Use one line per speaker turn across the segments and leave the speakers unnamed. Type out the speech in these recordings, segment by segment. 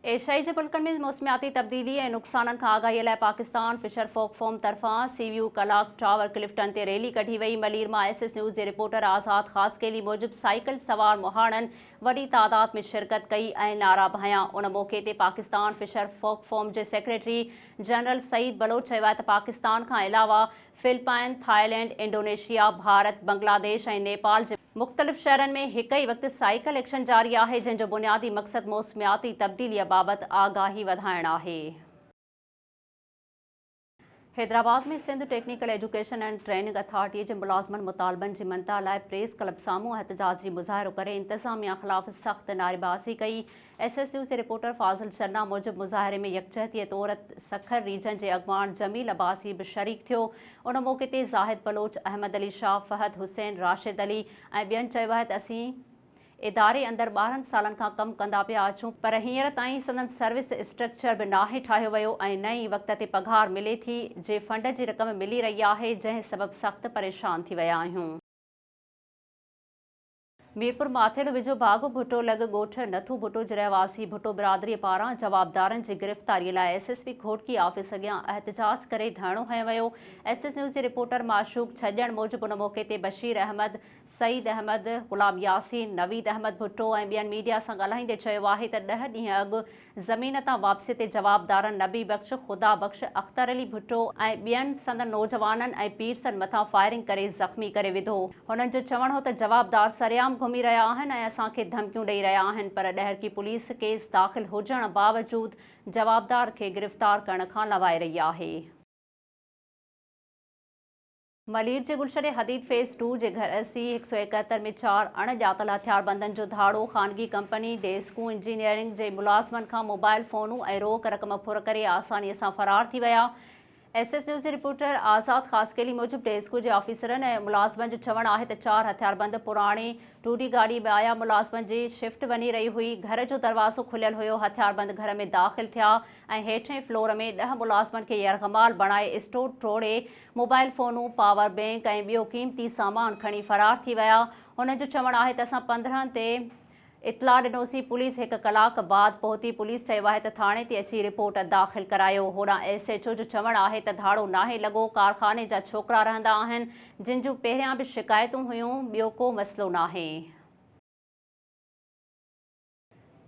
ايشيائي جي ملڪن ۾ موسمياتي تبديلي ۽ نقصانن کان آگاهي لاء پاڪستان فشر فوڪ فورم طرفان سي ويو ڪلاڪ ٽاور ڪلفٽن تي ريلي ڪڍي وئي ملير مان ايس ايس نيوز جي رپورٽر آزاد خاصخيلي موجب سائيڪل سوار مهاڻن وڏي تعداد ۾ شرڪت ڪئي ۽ نعرا به هنيا. ان موقعي تي پاڪستان فشر فوڪ فورم جي سيڪريٽري جنرل سعيد بلوچ چيو آهي ته پاڪستان کان علاوه Philippines, Thailand, Indonesia, Bharat, Bangladesh ۽ Nepal جي مختلف شهرن ۾ هڪ ئي وقت سائيڪل ايڪشن جاري آهي، جنهن جو بنيادي مقصد موسمياتي تبديليء بابت آگاهي وڌائڻ آهي. Hyderabad ۾ Sindh technical education and training اٿارٽيء جي ملازمن مطالبن جي منتا لاء پريس ڪلب سامهون احتجاجي مظاهرو ڪري انتظاميا خلاف سخت نعريبازي ڪئي. ايس ايس نيوز جي رپورٽر فاضل چنا موجب مظاهري ۾ يڪجهتيء طور سکر ريجن جي اڳواڻ جميل عباسي به شريڪ ٿيو. ان موقعي تي زاهد بلوچ، احمد علي شاهه، فهد حسين، راشد علي ۽ ٻين چيو آهي ته اسين اداري اندر ٻارهن سالن کان ڪم ڪندا پيا اچون پر هينئر تائين سندن سروس اسٽرڪچر به ناهي ٺاهيو ويو ۽ نه ئي وقت تي پگهار ملي ٿي جي فنڊ جي رقم ملي رهي آهي جنهن سبب سخت پريشان ٿي ويا آهيون. ميرپور ماٿيلو ويجهو باغ ڀٽو لڳ ڳوٺ نٿو ڀٽو جي رهواسي ڀٽو برادري پاران جوابدارن جي گرفتاري لاء S S P Ghotki office اڳيان احتجاج ڪري ڌرڻو هنيو ويو ايس ايس نيوز جي رپورٽر معشوق ڇڄڻ موجب ان موقعي تي بشير احمد سعيد احمد، غلام ياسين، نويد احمد ڀٽو ۽ ٻين ميڊيا سان ڳالهائيندي چيو آهي ته ڏهه ڏينهن اڳ زمين تان واپسي تي جوابدارن نبي بخش، خدا بخش، اختر علي ڀٽو ۽ ٻين سندن نوجوانن ۽ پيرسن مٿان فائرنگ ڪري زخمي ڪري وڌو. هنن جو چوڻ هو ته جوابدار سرعام گهمي رهيا آهن ۽ اسان کي ڌمڪيون ڏئي رهيا آهن پر ڏهرڪي پوليس ڪيس داخل هجڻ باوجود جوابدار کي گرفتار ڪرڻ کان لنوائي رهي آهي. ملير جي گلشن حديد فيز ٽو جي گهر سي هڪ سؤ ايڪهتر ۾ چار اڻ ڄاتل هٿياربندن جو ڌاڙو، خانگي ڪمپني ڊيسڪون انجنيئرنگ جي ملازمن کان موبائل فونون ۽ روڪ رقم ڦر ڪري آساني سان فرار ٿي ويا. ايس ايس نيوز جي رپورٽر آزاد خاصخيلي موجب ڊيسڪون جي آفيسرن ۽ ملازمن جو چوڻ آهي ته چار هٿياربند پراڻي ٽوڊي گاڏي ۾ آيا، ملازمن جي شفٽ وڃي رهي هئي، گهر جو دروازو کليل هيو، هٿياربند گهر ۾ داخل ٿيا ۽ هيٺين فلور ۾ ڏهه ملازمن کي يرغمال بڻائي اسٽور ٽوڙي موبائل فونون، پاور بئنڪ ۽ ٻيو قيمتي سامان کڻي فرار ٿي ويا. هنن جو چوڻ آهي ته اسان پندرهن تي اطلاع ڏنوسين، پوليس هڪ ڪلاڪ بعد پهتي، پوليس چيو آهي ته ٿاڻي تي اچي رپورٽ داخل ڪرايو، هوڏانهن ايس ايڇ او جو چوڻ آهي ته ڌاڙو ناهي لڳو، ڪارخاني جا ڇوڪرا رهندا آهن، جن جون پهريان به شڪايتون هيون، ٻيو ڪو مسئلو ناهي.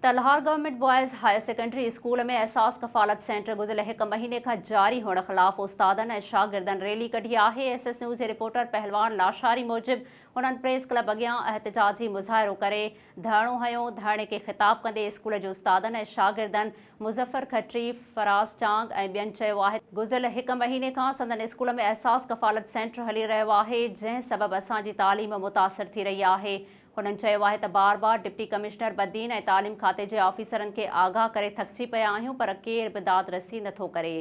ته Lahore government boys higher secondary school ۾ Ehsaas Kafalat centre گذريل هڪ مهيني کان جاري هئڻ خلاف استادن ۽ شاگردن ريلي ڪڍي آهي ايس ايس نيوز جي رپورٽر پهلوان لاشاري موجب هنن پريس ڪلب اڳيان احتجاجي مظاهرو ڪري ڌرڻو هنيو ڌرڻي کي خطاب ڪندي اسڪول جي استادن ۽ شاگردن مظفر کٽري فراز چانگ ۽ ٻين چيو آهي ته گذريل هڪ مهيني کان سندن اسڪول ۾ احساس ڪفالت سينٽر هلي رهيو آهي جنهن سبب اسان جي تعليم متاثر ٿي رهي آهي هنن چيو آهي ته بار بار ڊپٽي ڪمشنر بدين ۽ تعليم کاتي جي آفيسرن کي آگاهه ڪري ٿڪجي پيا آهيون پر ڪير به داد رسي نه ٿو ڪري.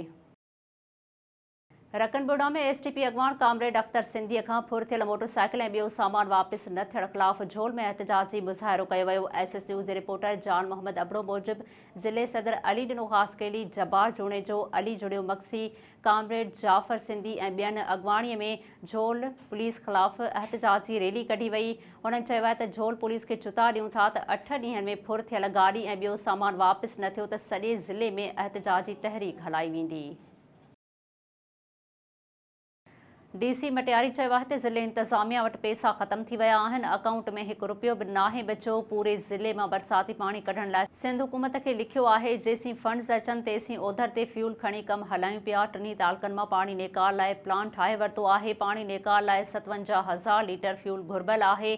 رڪن بورڊا ۾ ايس ٽي پي اڳواڻ ڪامريڊ اختر سنڌيء کان ڦر ٿيل موٽر سائيڪل ۽ ٻيو سامان واپس نه ٿيڻ خلاف جھول ۾ احتجاجي مظاهرو ڪيو ويو. ايس ايس نيوز جي رپورٽر جان محمد ابڙو موجب ضلعي صدر علي ڏنو خاصخيلي، جبار جوڻيجو، علي جوڻيو مگسي، ڪامريڊ جعفر سنڌي ۽ ٻين اڳواڻي ۾ جھول پوليس خلاف احتجاجي ريلي ڪڍي وئي انھن چيو آھي ته جھول پوليس کي چتا ڏيون ٿا ته اٺ ڏينھن ۾ ڦر ٿيل گاڏي ۽ ٻيو سامان واپس نه ٿيو ته سڄي ضلعي ۾ احتجاجي تحريڪ ھلائي ويندي. ڊي سي مٽياري چيو آهي ته ضلعي انتظاميا وٽ پيسا ختم ٿي ويا آهن، اڪائونٽ ۾ هڪ رپيو به ناهي بچيو، پوري ضلعي مان برساتي پاڻي ڪڍڻ لاء، سنڌ حڪومت کي لکيو آهي، جيسين فنڊز اچن تيسين اوڌر تي فيول کڻي ڪم هلايون پيا، ٽنهي تعلقن مان پاڻي نيڪال لاء پلان ٺاهي ورتو آهي، پاڻي نيڪال لاء ستونجاهه هزار ليٽر فيول گهربل آهي،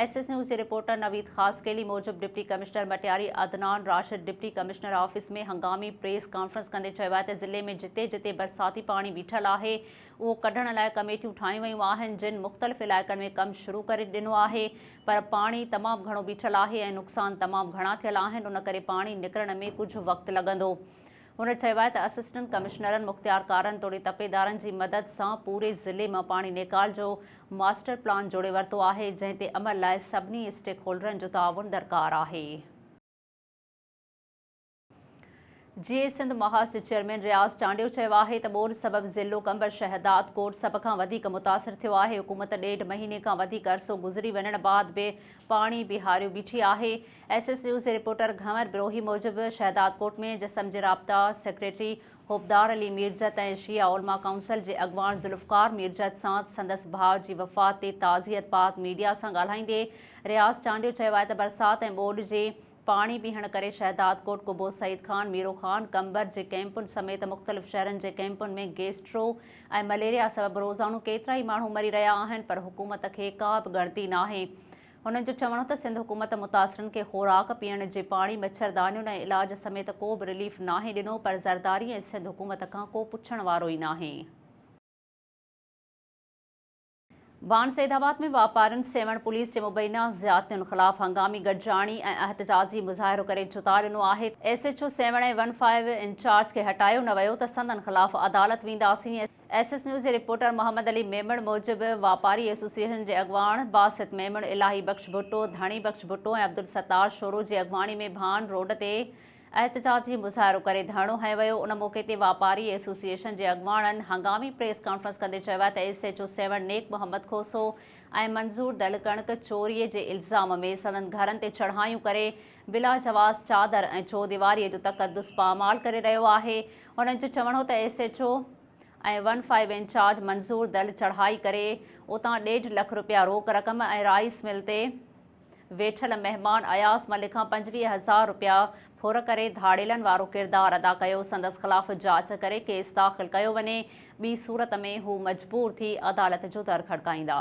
ايس ايس نيوز جي رپورٽر نويد خاصخيلي موجب deputy commissioner Matiari Adnan Rashid deputy commissioner office ۾ هنگامي پريس ڪانفرنس ڪندي چيو آهي ته ضلعي ۾ جتي جتي برساتي پاڻي بيٺل آهي اهو ڪڍڻ لاء ڪميٽيون ٺاهيون ويون آهن جن مختلف علائقن ۾ ڪم شروع ڪري ڏنو آهي پر پاڻي تمام گهڻو بيٺل آهي ۽ نقصان تمام گهڻا ٿيل آهن ان ڪري پاڻي نڪرڻ ۾ ڪجهه وقت لڳندو. هن چيو آهي ته اسسٽنٽ ڪمشنرن مختيارڪارن توڙي تپيدارن جي مدد سان پوري ضلعي مان پاڻي نيڪال جو ماسٽر پلان جوڙي ورتو آهي جنهن تي عمل لاء سڀني اسٽيڪ هولڊرن جو تعاون درڪار آهي. جيئي سنڌ محاذ جي چيئرمين رياض چانڊيو چيو آهي ته ٻوڏ سبب ضلعو قمبر شهداد ڪوٽ سڀ کان وڌيڪ متاثر ٿيو آهي حڪومت ڏيڍ مهيني کان وڌيڪ عرصو گذري وڃڻ بعد به پاڻي بيهاريو بيٺي آهي ايس ايس نيوز جي رپورٽر گهنور بروهي موجب شهداد ڪوٽ ۾ جسم جي رابطا سيڪريٽري حبدار علي ميرجت ۽ شيعه علماء ڪائونسل جي اڳواڻ ذوالفقار ميرجت سان سندس ڀاء جي وفات تي تعزيت بعد ميڊيا سان ڳالهائيندي رياض چانڊيو چيو آهي ته برسات ۽ ٻوڏ جي پاڻي بيهڻ ڪري شهدادڪوٽ، قبو سعيد خان، ميرو خان، قمبر جي ڪئمپن سميت مختلف شهرن جي ڪئمپن ۾ گيسٽرو ۽ مليريا سبب روزانو ڪيترائي ماڻهو مري رهيا آهن پر حڪومت کي ڪا به ڳڻتي ناهي. هنن جو چوڻ هو ته سنڌ حڪومت متاثرن کي خوراڪ، پيئڻ جي پاڻي، مڇردانيون ۽ علاج سميت ڪو به رليف ناهي ڏنو پر زرداري ۽ سنڌ حڪومت کان ڪو پڇڻ وارو ئي ناهي. بان سيد آباد ۾ واپارين سيوهڻ پوليس جي مبينا زيادتين خلاف هنگامي گڏجاڻي ۽ احتجاجي مظاهرو ڪري جتا ڏنو آهي، S H O Sehwan ۽ one five incharge کي هٽايو نه ويو ته سندن خلاف عدالت وينداسين، ايس ايس نيوز جي رپورٽر محمد علي ميمڻ موجب واپاري ايسوسيئيشن جي اڳواڻ باسط ميمڻ، الاهي بخش ڀٽو، ڌڻي بخش ڀٽو ۽ عبدالستار شورو جي اڳواڻي ۾ ڀان روڊ تي احتجاج جي مظاهرو ڪري ڌرڻو هنيو ويو، ان موقعي تي واپاري ايسوسيئيشن جي اڳواڻن هنگامي پريس ڪانفرنس ڪندي چيو آهي ته S H O Sehwan Nek Muhammad Khoso ۽ منظور دل ڪڻڪ چوري جي الزام ۾ سندن گهرن تي چڙهايون ڪري بلاجواز چادر ۽ چوديواري جو تقدس پامال ڪري رهيو آهي انهن جو چوڻ هو ته S H O ۽ one five incharge Manzoor دل چڙهائي ڪري اتان ڏيڍ لک رپيا روڪ رقم ۽ رائيس مل تي ويٺل مهمان اياز ملڪ کان پنجويهه هزار رپيا ڦر ڪري ڌاڙيلن وارو ڪردار ادا ڪيو، سندس خلاف جاچ ڪري ڪيس داخل ڪيو وڃي، ٻي صورت ۾ هو مجبور ٿي عدالت جو در کڙڪائيندا.